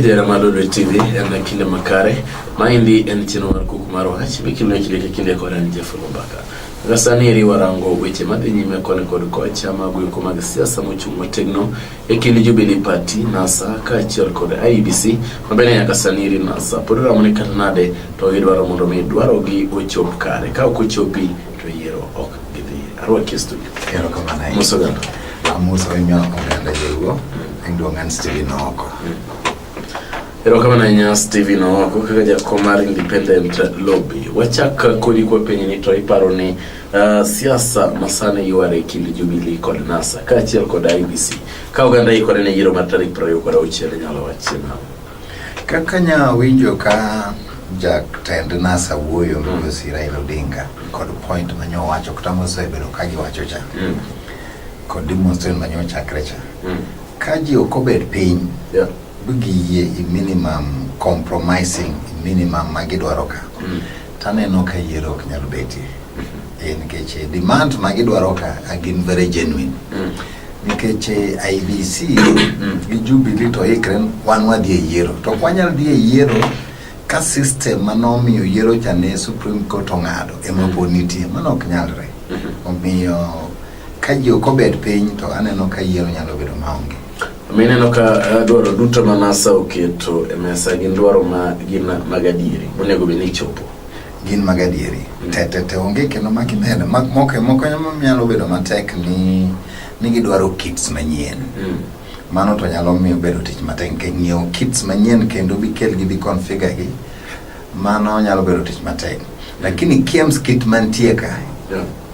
Jera Malolo TV en kinde makare. Maendi en chenro mar kuku mar wach mikimne kinde ka kinde kod an Jeff Lumbaka. Kaka sani eri warango weche madhi nyime koni kod kocha mag yuko mag siasa mochung' motegno e kind Jubilee Party, NASA kaachiel kod IEBC mabende nyaka sani eri NASA pod ramone kata nade to gidwaro mondo mi dwarogi ochop kare. Ka ok ochopi to yiero ok gidhi arwaki e studio erokamano ahinya muso gano amuso ahinya oganda joluo ahinya duong' an Steven Ooko erokamano ahinya Steven Ooko kaka jakom mar independent lobby wachak kodi kwa pinyni to iparo ni uh, siasa masani yware e kind Jubilee kod NASA kaachiel kod IBC ka oganda ikore ne yiero mar tarik prariyo kod auchiel inyalo wachie nang'o Kaka nya winjo ka jatend NASA wuoyo migosi Raila Odinga kod point ma nyo wacho kata mosebedo ka giwacho cha kod demonstration ma nyo chakre cha ka ji ok obed piny Yeah. giyie i minimum compromising i minimum ma gidwaro ka taneno ka yiero ok nyal betie Eh, nikech eh, demand ma gidwaro ka a gin very genuine nikech eh, IBC mm. gi Jubilee to ikre wan wadhi e yiero to ok wanyal dhi e yiero ka system ma nomiyo yiero cha ne Supreme Court ong'ado ema po nitie mano ok nyalre mm-hmm. omiyo ka ji ok obed piny to aneno ka yiero nyalo bedo maonge mineno ka eh, dwaro duto ma NASA oketo e mesa gin dwaro ma gin mag adieri monego bed ni ichopo gin mag adieri mm. tetete onge kendo ma kimedo moko moko nyalo bedo matek ni ni gidwaro kits manyien mm. mano to nyalo miyo bedo tich matek nikech ng'iewo kits manyien kendo bikelgi bi configure gi mano nyalo bedo tich matek lakini kiems kit mantie ka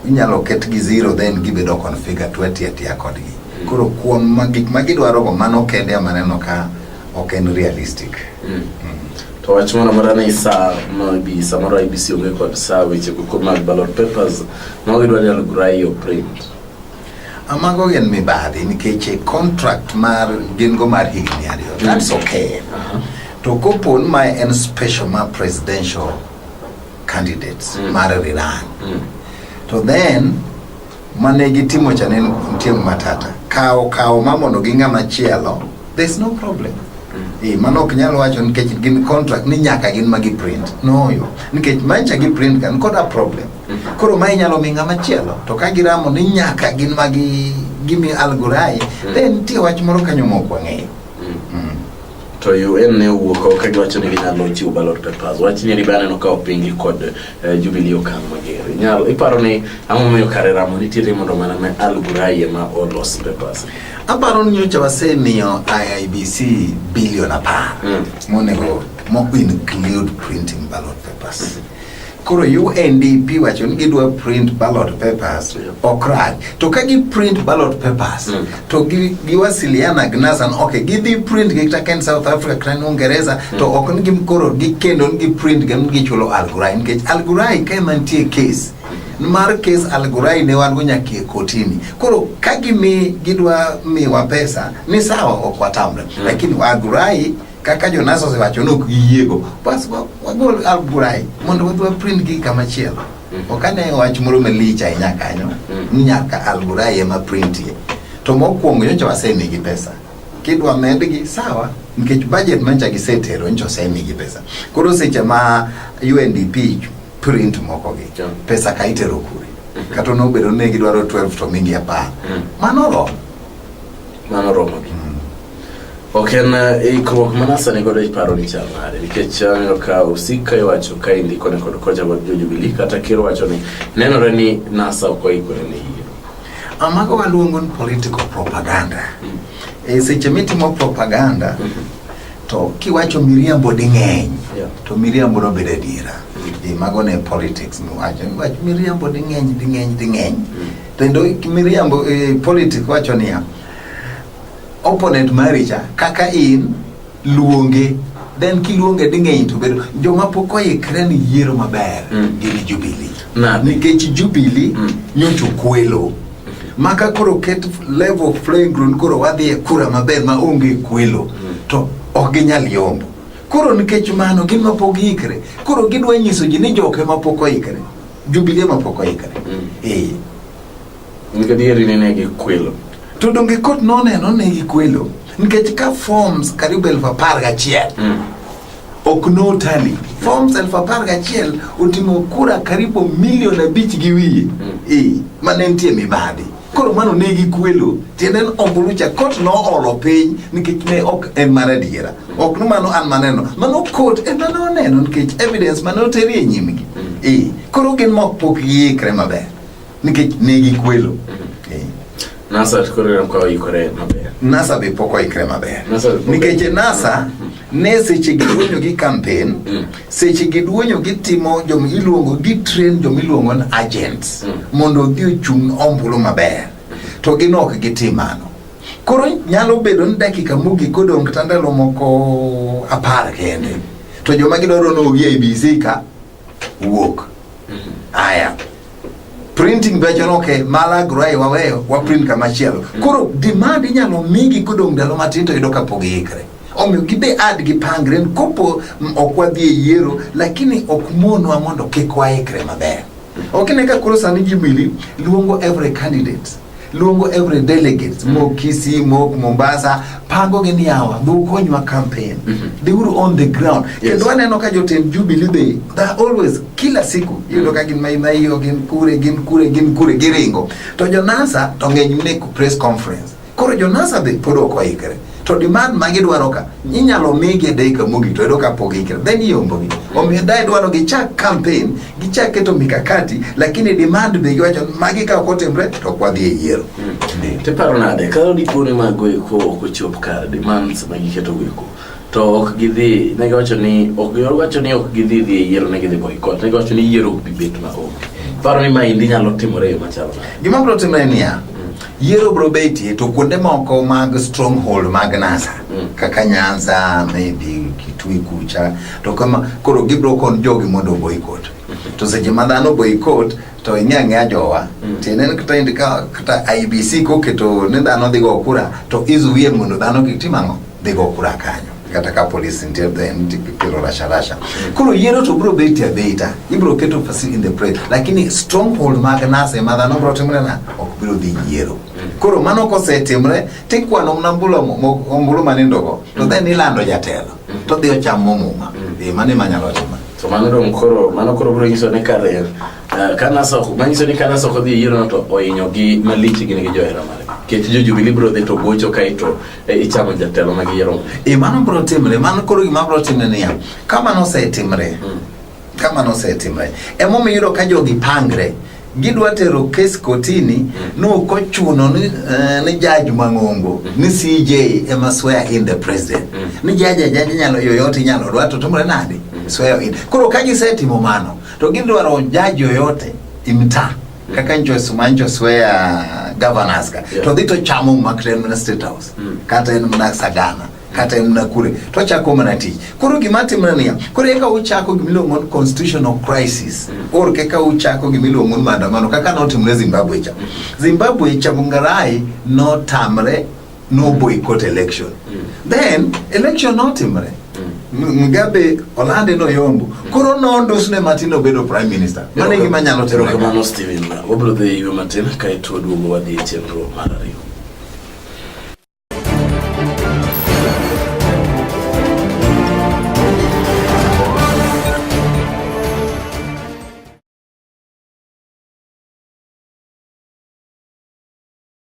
inyalo ket gi zero then gibedo configure twatiatia kodgi mm. koro kuom gik ma gidwarogo mano kende amaneno ka ok en realistic mm. Mm. to wach moro amora ni sa maybe samoro IBC onge kod sa weche go mag ballot papers mago idwa ni alugrai o print amago gin mibadhi nikech e contract mar gin go mar higni ariyo mm. that's okay uh -huh. to kopo ni ma en special ma presidential candidates mm. mar rilang mm. to then mane gitimo cha ne nitie matata kawo kawo ma mondo gi ng'ama chielo there is no problem mm. eh mano ok nyal wacho nikech gin contract ni nyaka gin ma gi print no yo nikech ma cha gi print kan koda problem mm-hmm. koro ma inyalo mi ng'ama chielo to ka giramo ni nyaka gin ma gi gimi algorai mm. then nitie wach moro kanyo ma ok wang'eyo to UN ne owuok oko ka giwacho ni ginyalo chiwo ballot papers. Wach nyeri be aneno ka opingi kod eh, Jubilee Okang' Mager. Inyalo iparo ni ang'o momiyo kare ramo nitiere mondo mana ne Al Ghurair ema olos papers. Aparo ni nyocha wasemiyo IIBC bilion apar Mm. monego mo include printing ballot papers. Koro UNDP wacho ni gidwa print ballot papers yeah. Okraj to ka gi print ballot papers mm. to giwasiliana gi Nasan okay, gidhi print gi kata kaen South Africa kata Uingereza mm. to ok ni gikoro gikendo ni giprint gi gichulo Al Ghurair nikech Al Ghurair ka ema nitie case mar kes Al Ghurair ne wan go nyaka e kotini. Koro ka gimi gidwa miwa pesa ni sawa, ok watamre, mm. lakini Al Ghurair kaka Jonas osewacho ni ok giyiego bas wa- wagol alburai mondo wadhi waprint gi kama chielo Mhm. ok ane wach moro malich ahinya kanyo Mhm. ni nyaka alburai ema printie to mokwongo nyocha wasemigi pesa kidwa medgi sawa nikech budget manyocha gisetero nyocha osemigi pesa koro seche ma UNDP print mokogi Sure. pesa ka itero kure kata nobedo ni gidwaro 12 to migi apar Mhm. mano oromo mano romogi ok en eh, ikruok ma nasa ni godo iparo ni chal nade nikech aneno eh, ka osik ka iwacho ka indiko ne kod kocha kod jojubilii kata kir wacho ni nenore ni nasa ok oikore ni yiero amago waluongo ni political propaganda mm. e seche mitimo propaganda mm -hmm to kiwacho miriambo ding'eny yeah. to miriambo nobedo adiera mm. mago ne politics miwacho miriambo ding'eny ding'eny ding'eny mm. Kendo miriambo e politik wacho niya, opponent mari cha kaka in luonge then kiluonge ding'eny to bedo joma pok oikre ni yiero maber Mm. gin Jubilee Nade? nikech Jubilee Mm. nyocha okwelo maka koro ket level of playing ground koro wadhi e kura maber ma onge kwelo to ok ginyal yombo koro nikech mano gin ma pok giikre koro gidwa nyiso ji ni joke ma pok oikre Jubilee ma pok oikre. Mm. Eh. Nikech adieri ni ne gikwelo. To donge kot noneno ne gikwelo nikech ka forms karibu elfu apar gachiel mm. ok notali forms elfu apar gachiel oting'o kura karibu milion abich gi wiye mm. e, ma ne nitie mibadhi Koro mano ne gikwelo tiende ni ombulu cha kot noolo piny nikech ne ok en mar adiera ok ni mano an maneno mano kot ema noneno nikech evidence mane oteri e nyimgi eh koro gin mok pok giikre maber nikech ne gikwelo eh Nasa koro ineno ka oikore maber. NASA be pok oikre maber Nasa be pok- nikech NASA ne seche gi wuonyo gi campaign seche giduonyo gitimo joma iluongo gitrain joma iluongo ni agents mm. mondo odhi ochung' ombulu maber to gin ok gitim mano koro nyalo bedo ni dakika mogik odong' kata ndalo moko apar kende to joma gidwaro nogi e bc ka wuok mm-hmm. aya printing becho noke malagro e waweyo waprint kamachielo mm. koro demand inyalo migi kodong' ndalo matin to yudo kapog iikre Omiyo gibe ad gipangre ni kopo m- ok wadhi e yiero lakini ok monwa mondo kik waikre maber. Ok ine ka koro sani Jubilee luongo every candidate luongo every delegate mok Kisii mok Mombasa pango gi niyawa dhi ukonywa campaign they were on the ground Yes. kendo aneno ka jotend Jubilee be they are always kila siku iyudo ka gin maimaio gin kure gin kure gin kure giringo to jo NASA to ng'eny mne ku press conference Koro Jonasa be pod ok oikre. To demand ma gidwaro ka, inyalo migi e dakika mogik to yudo ka pok giikre. Then iombogi. Omiyo dae dwaro gichak campaign, gichak keto mikakati, lakini demand be giwacho ni magi ka ok otimre to ok wadhi e yiero. Ndi. Tiparo nade, ka dipo ni mago eko ok ochop kare, demands ma giketo go eko, to ok gidhi ne giwacho ni ok giwacho ni ok gidhi dhi e yiero ne gidhi boycott ne giwacho ni yiero ok bi bet ma onge paro ni maendi nyalo timore e yo machalo nade? Gima biro timre niya, yiero biro betie to kuonde moko mag stronghold mag NASA Mm. kaka Nyanza, maybe Kitui kucha to kama koro gibiro kon jogi mondo boycott. To seche ma dhano boycott to ing'e ang'eya jowa Mm. tiende ni kata indi ka kata IBC koketo ni dhano dhigo kura to izuie mondo dhano kik tim ang'o? bego kura kanyo kata ka police nitie then tikelo rasharasha koro yiero to bro bet ya beta ibro keto facility in the press lakini stronghold mag nase ma dhano bro timre na ok biro dhi yiero koro mano kosetimre tikwano mna mbulo mo- mo- ombulu manindogo to then ilando jatelo to dhi ochamo muma e mano ema nyalo timo to mano dong koro mano koro biro nyiso ni kare eh, ka nasa ok- manyiso ni ka nasa ok odhi e yiero no to ohinyo gi malich gin gi johera mare kech jo jubilee biro dhi to gocho kae to e, ichamo jatelo ma giyiero e mano bro timre mano koro gima bro timre niya ka mano osetimre hmm. ka mano osetimre emomiyo yudo ka jogi pangre gidwa tero kes kotini hmm. nokochuno ni, uh, ni jaj mang'ongo hmm. ni cj ema swear in the president ni jaj ajaj nyalo yoyote inyalo dwa to timre nade swear in koro ka gisetimo mano to gidwaro jaj yoyote imta kaka njosu ma njosu e uh, governors ka yeah. to dhi to chamo ma kata en mana state house mm. kata en mana sagana kata en mana kure to chako mana tich koro gima timre niya koro eka uchako gima iluongo ni constitutional crisis mm. or kaka uchako gima iluongo ni maandamano kaka notimre Zimbabwe cha mm. Zimbabwe cha Mungarai notamre no boycott election mm. then election notimre mm. Mugabe olande no yombo mm. koro nondos ne Martin obedo prime minister mane gima nyalo tero kamano Steven wabro dhi ywe matin kae to duogo wadhi e chenro mar ariyo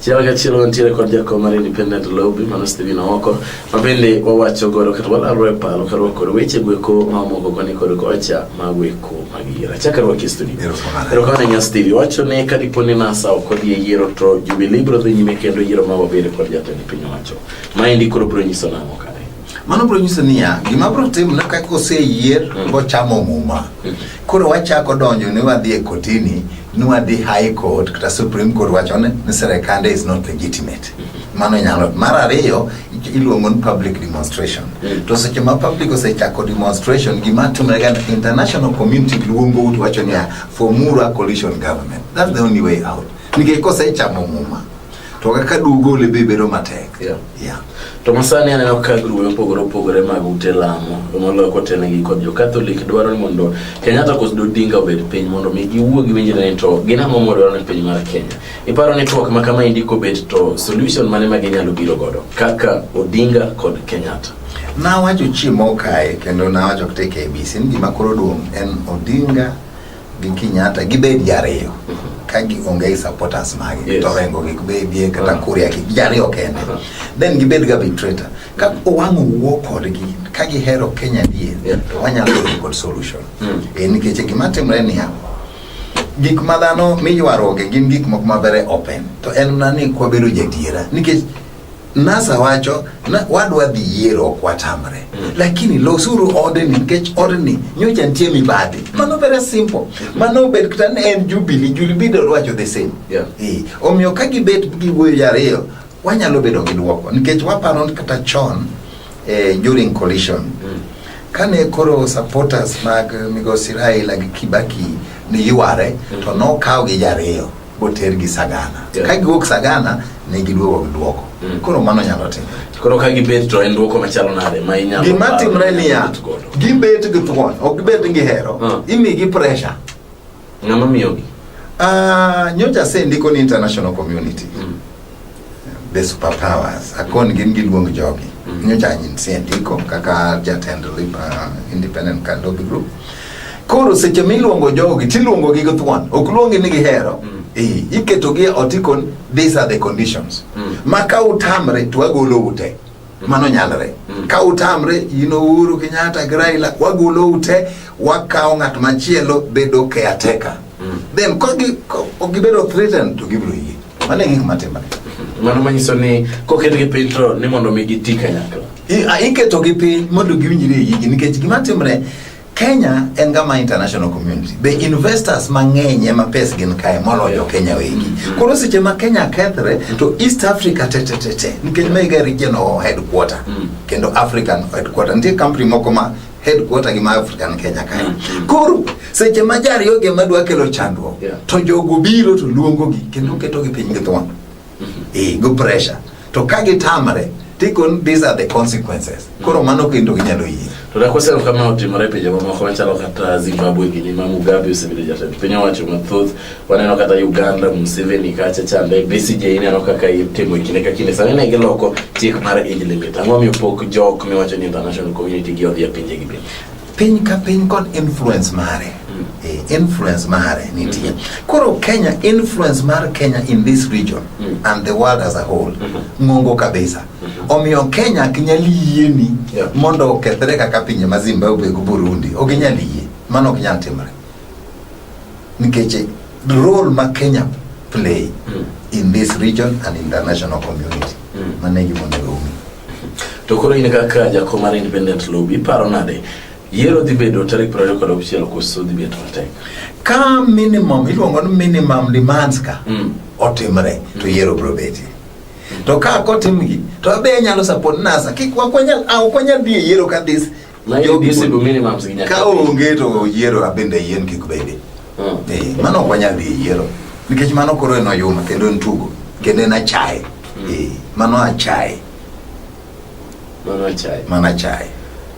Chiel kachiel wantiere kod jakom mar Independent Lobby mano Stephen Oko ma bende wawacho godo kata walalro e paro ka rwako weche gweko ma omoko koni kod kocha ma gweko magira. Chaka rwaki studio. Erokamano. Erokamano nya Steve. Wacho ne ka dipo ni NASA ok odhi e yiero to Jubilee biro dhi nyime kendo yiero ma wabedo kod jatend piny owacho. Ma endi koro biro nyiso nang'o kae. Mano biro nyiso niya, gima biro timore ka koseyier mm. bochamo muma. Mm. Koro wachako donjo ni wadhi e kotini, ni wadhi high court kata supreme court wacho ni serikande is not legitimate. Mm. mano nyalo mar ariyo iluongo ni public demonstration mm. to seche ma public osechako demonstration gima timrega international community luongou to wacho niya formura coalition government that's the only way out nikech kosechamo muma to kaka dugole be bedo matek yeah. Yeah. to masani aneno ka grube mopogore opogore mag ute lamo moloyo kotelnegi kod jo catholic dwaro ni mondo kenyatta kos dodinga obed piny mondo mi giwuo gi winjre ni to gin ang'o modwaro ni piny mar kenya iparo ni twak ma kama indi kobet to solution mane ma ginyalo biro godo kaka odinga kod kenyatta nawacho chiemo kae kendo nawacho kte kbc ni gima koro duong' en odinga gi Kenyatta gibed jariyo ka gionge gi supporters magi Yes. to rengo gi bedie kata kuria gi jariyo kende then gibed ga arbitrator ka owang' owuo kodgi ka gihero Kenya dier Yeah. to wanyalo yudo kod solution Mm. Eh, nikech gima timre niya gik ma dhano miywaruoge gin gik moko ma very open to en mana ni kwabedo jadiera nikech NASA wacho na wadwa dhi yiero ok watamre mm. lakini losuru odeni nikech odeni nyocha nitie mibadhi mm. mano very simple mano obed kata ne en jubili julibido rwacho the same yeah. e. omiyo ka gibet giwuoyo jariyo wanyalo bedo gi dwoko nikech waparo kata chon eh, during collision mm. kane koro supporters mag migosi Raila gi Kibaki ni yware mm. to nokaw gi jariyo otergi sagana yeah. ka giwuok sagana ne giduogo gi duoko mm. koro mano nyalo timore koro ka gibet to en duoko machalo nade ma inyalo gima timre niya gibet gi thuon ok gibet gi hero uh. Ah. imigi pressure ng'ama miyogi uh, ah, nyocha asendiko ni international community mm. the superpowers akon gin giluong jogi mm. nyocha anyinsie ndiko kaka jatend uh, independent kalobi group koro seche miluongo jogi tiluongo gi githuon ok luongi ni gihero mm. eh, iketo gi otikon these are the conditions mm. ma ka utamre to agolo ute Mano nyalre. Mm. Ka utamre in Uhuru Kenyatta gi Raila wagolo ute wakawo ng'at machielo bedo caretaker. Mm. Then ka gi ko- ok gibedo threatened to gibiro yie. Mano e gik matimore. Mano manyiso ni koketgi piny to ni mondo mi giti kanyakla. I- a- Iketogi piny mondo giwinjre e yigi nikech gima timre Kenya en gama international community. Be investors mang'eny ema pes gin kae moloyo Kenya wegi. Koro seche ma Kenya kethre to East Africa te te te te nikech mega regional headquarter mm. kendo African headquarter. Nitie company moko ma headquarter gi ma African Kenya kae. Mm, mm. Koro seche ma jariyo ge madwa kelo chandruok to jogo biro to luongo gi kendo keto gi piny gi thuon. eh, go pressure to ka gitamre tikon these are the consequences koro mano kendo ginyalo yie to nakosero kama otimore pinje mamoko machalo kata zimbabwe gini ma mugabe osebedo jatend piny owacho mathoth waneno kata uganda museveni kacha chande bcj ineno kaka itimo e kinde ka kinde sani ne giloko chik mar age limit ang'o miyo pok jok miwacho ni international community gi odhi e pinjegi bende piny ka piny kod influence mare mm. eh, influence mare nitie mm -hmm. koro Kenya influence mar Kenya in this region mm -hmm. and the world as a whole mm -hmm. ng'ongo kabisa mm -hmm. omiyo Kenya ok nyal yieni yeah. mondo okethre kaka pinje ma Zimbabwe go Burundi ok nyal yie mano ok nyal timore nikech role ma Kenya play mm. in this region and international community mm. mano e gima onego umi to koro in kaka jako mar independent lobby paro nade yiero dhi bedo tarik prariyo kod auchiel koso dhi bedo matek ka minimum iluongo ni minimum demands ka mm. otimre to mm. yiero biro betie to ka kotimgi to abe nyalo support nasa kik wakwanyal ah, wakwanyal dhi e yiero ka this Ma in Jogi- visible minimums gi nyaka. ka onge to yiero abende yien kik bedi Mm. Eh, mano ok wanyal dhi e yiero nikech mano koro en oyuma kendo en tugo kendo en achaye Eh, mano achaye Mano achaye. mano achaye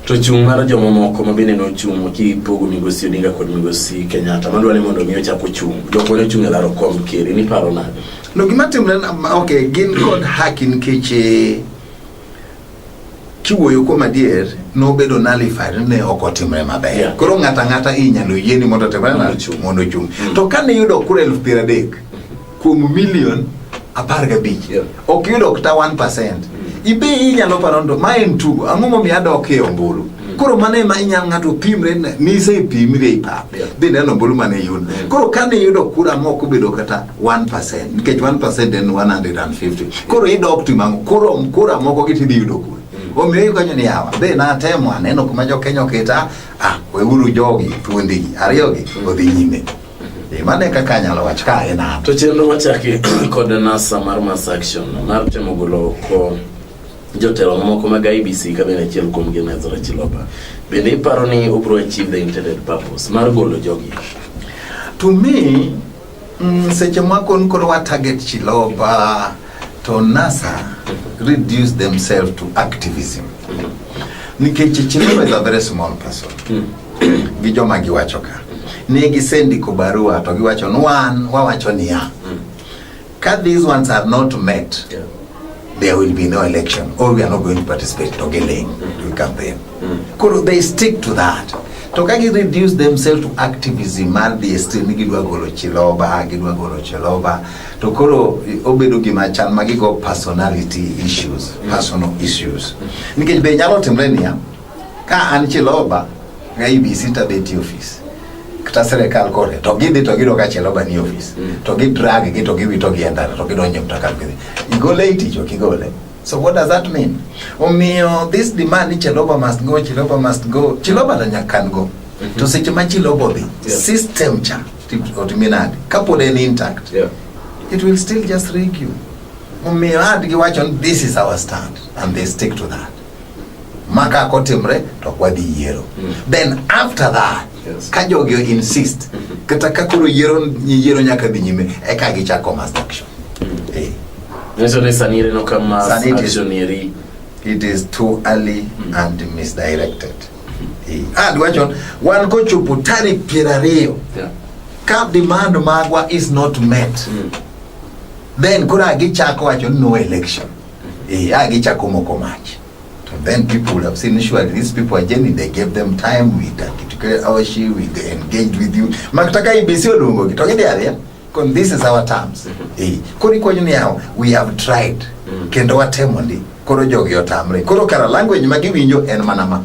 To chung' mar jomamoko ma bende nochung' kipogo migosi Odinga kod migosi Kenyatta madwa ni mondo mi ochak ochung'. Jok mane ochung' e laro kom ker ni paro nade? no gima timre na- ma- ok gin kod haki nikech eh, kiwuoyo kuom adier nobedo nullified ne ok otimre maber yeah. koro ng'ato ang'ata inyalo yieni mondo otimre mm. mondo ochung mm. to kane yudo kura elfu piero adek kuom milion apar gabich yeah. ok yudo kata 1 percent mm. ibe inyalo paro ndo ma en tugo ang'o momiyo adok e ombulu mm. koro mano ema inyalo ng'ato pimre ni isepimri e pap yeah. dhi neno ombulu mane iyudo mm. koro kane iyudo kura mok obedo kata 1% nikech 1% en 150 koro idok timang'o kuro kura moko gi tidhi yudo kura omiyo ikonyo ni yawa be natemo aneno kuma jokenya oketa ah weuru jogi thuondigi ariyogi odhi nyime Eh, mano e kaka anyalo wacho ka en an to chenro machaki kod nasa mar mass action mar temo golo ko jotelo mamoko mag ibc ka bende achiel kuomgi en ezra chiloba bende iparo ni obro achieve the intended purpose mar golo jogi to me Mm, seche moko ni koro wa target Chiloba to NASA reduce themselves to activism nikech Chiloba is a very small person gi joma giwacho ka ne gisendiko barua to giwacho ni wan wawacho niya ka these ones are not met Yeah. there will be no election or we are not going to participate to Geleng to campaign. Koro they stick to that. To ka gi reduce themselves to activism mar dhi e street ni gidwa golo Chiloba, gidwa golo Chiloba. To koro obedo gima chal ma gigo personality issues, personal issues. Nikech be nyalo timre niya, Ka an Chiloba ka IBC to adhi tiyo ofis kata sirikal kore to gidhi to giyudo ka Chiloba ni ofis mm. to gidrag gi to giwito gi e ndara to gidonjo e mtoka gidhi igole e tich ok igole So what does that mean? Omiyo this demand ni Chiloba must go, Chiloba must go. Chiloba to nyaka kan go. Mm -hmm. To seche ma Chiloba odhi, yeah. system cha otimi nade? Kapod en intact. Yeah. It will still just rig you. Omiyo adgi wacho this is our stand and they stick to that. maka kotimre to ok wadhi yiero mm. then after that yes. ka jogi insist mm-hmm. kata ka koro yiero yiero nyaka dhi nyime eka gichako mass action mm. eh. it is too early mm. and misdirected mm-hmm. eh. and ah, wachon wan kochopo tarik piero ariyo ka demand magwa is not met mm. then koro agichako wacho no election Eh, yeah, gichako moko mach. So then people would have seen surely these people are genuine. They gave them time. We together our she we engaged with you. Makutaka ibisi olungo kitogede area. Kon this is our terms. Eh, kori kwa nyuni yao we have tried. Mm. Kendo watemo ndi. Koro jogi otamre. Koro kara language magiwinjo en manama.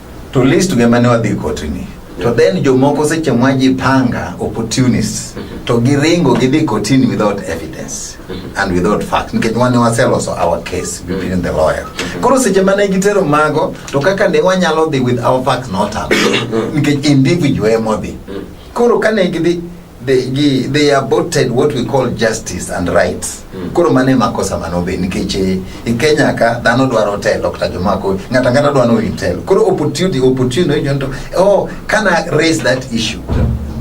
To list gema ne wadhi kotini. To then jomoko seche mwa jipanga opportunists mm-hmm. to giringo gidhi kotini without evidence mm-hmm. and without facts nikech wane waseloso our case between mm-hmm. the lawyer. Koro seche mane gitero mago to kaka ne wanyalo dhi with our facts not up nikech individual emodhi. Koro kane gidhi they, gi, they aborted what we call justice and rights mm. koro mano e makosa manobe nikech eh, e Kenya ka dhano dwaro telo kata joma ko ng'ato ang'ata dwaro ni telo koro opportunity opportunity jonto oh can I raise that issue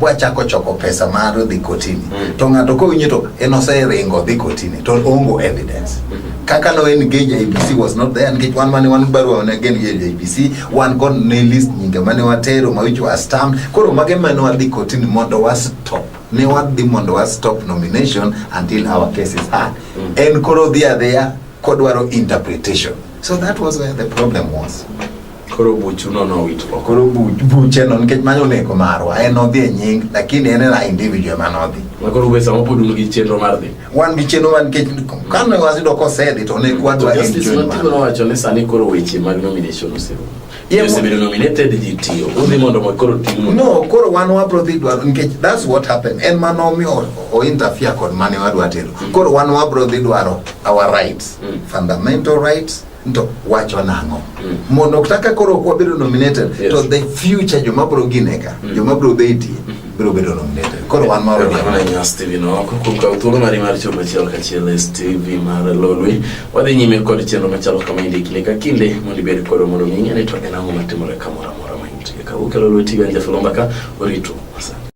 bwachako choko pesa mar dhi kotini mm. to ng'ato kowinjo to en oseringo dhi kotini to ongo evidence mm -hmm. kaka no engage IBC was not there nikech wan mane wan barua ne gen IBC wan go ne list nyinge mane watero ma which was stamped koro mage mane wadhi kotini mondo wa stop ne wadhi mondo wa stop nomination until our case is heard en koro dhi adhiya kodwaro interpretation so that was where the problem was koro buchuno nowit oko koro bu- bucheno nikech mano oneko marwa en odhi e nying lakini en ena individual mane odhi makoro be sama pod un gi chenro mar dhi wan gi chenro man kech kane wasido kosedhi to ne kwadwa justice matimo nowacho ni sani koro weche mag nomination oserumo osebedo nominated ji tiyo udhi mondo mo koro timu no koro wan wabro dhi dwaro nikech that's what happened en mane omiyo ointerfere kod mane wadwa tero mm. koro wan wabro dhi dwaro our rights mm. fundamental rights to wacho nang'o mm. mondo kaka koro wabedo nominated yes. to the future joma bro gineka mm. joma bro betie mm. biro bedo nominated koro wan moro diamanya steven oko kuom kawo thuolo mari mar chopo achiel kachiel e steve mar lolwe wadhi nyime kod chenro machalo kama indi kinde ka kinde mondo ibed koro mondo ming'e ni to en ang'o matimore kamoro amora ma intie ka ukelo lweti ganja filomba ka orito asante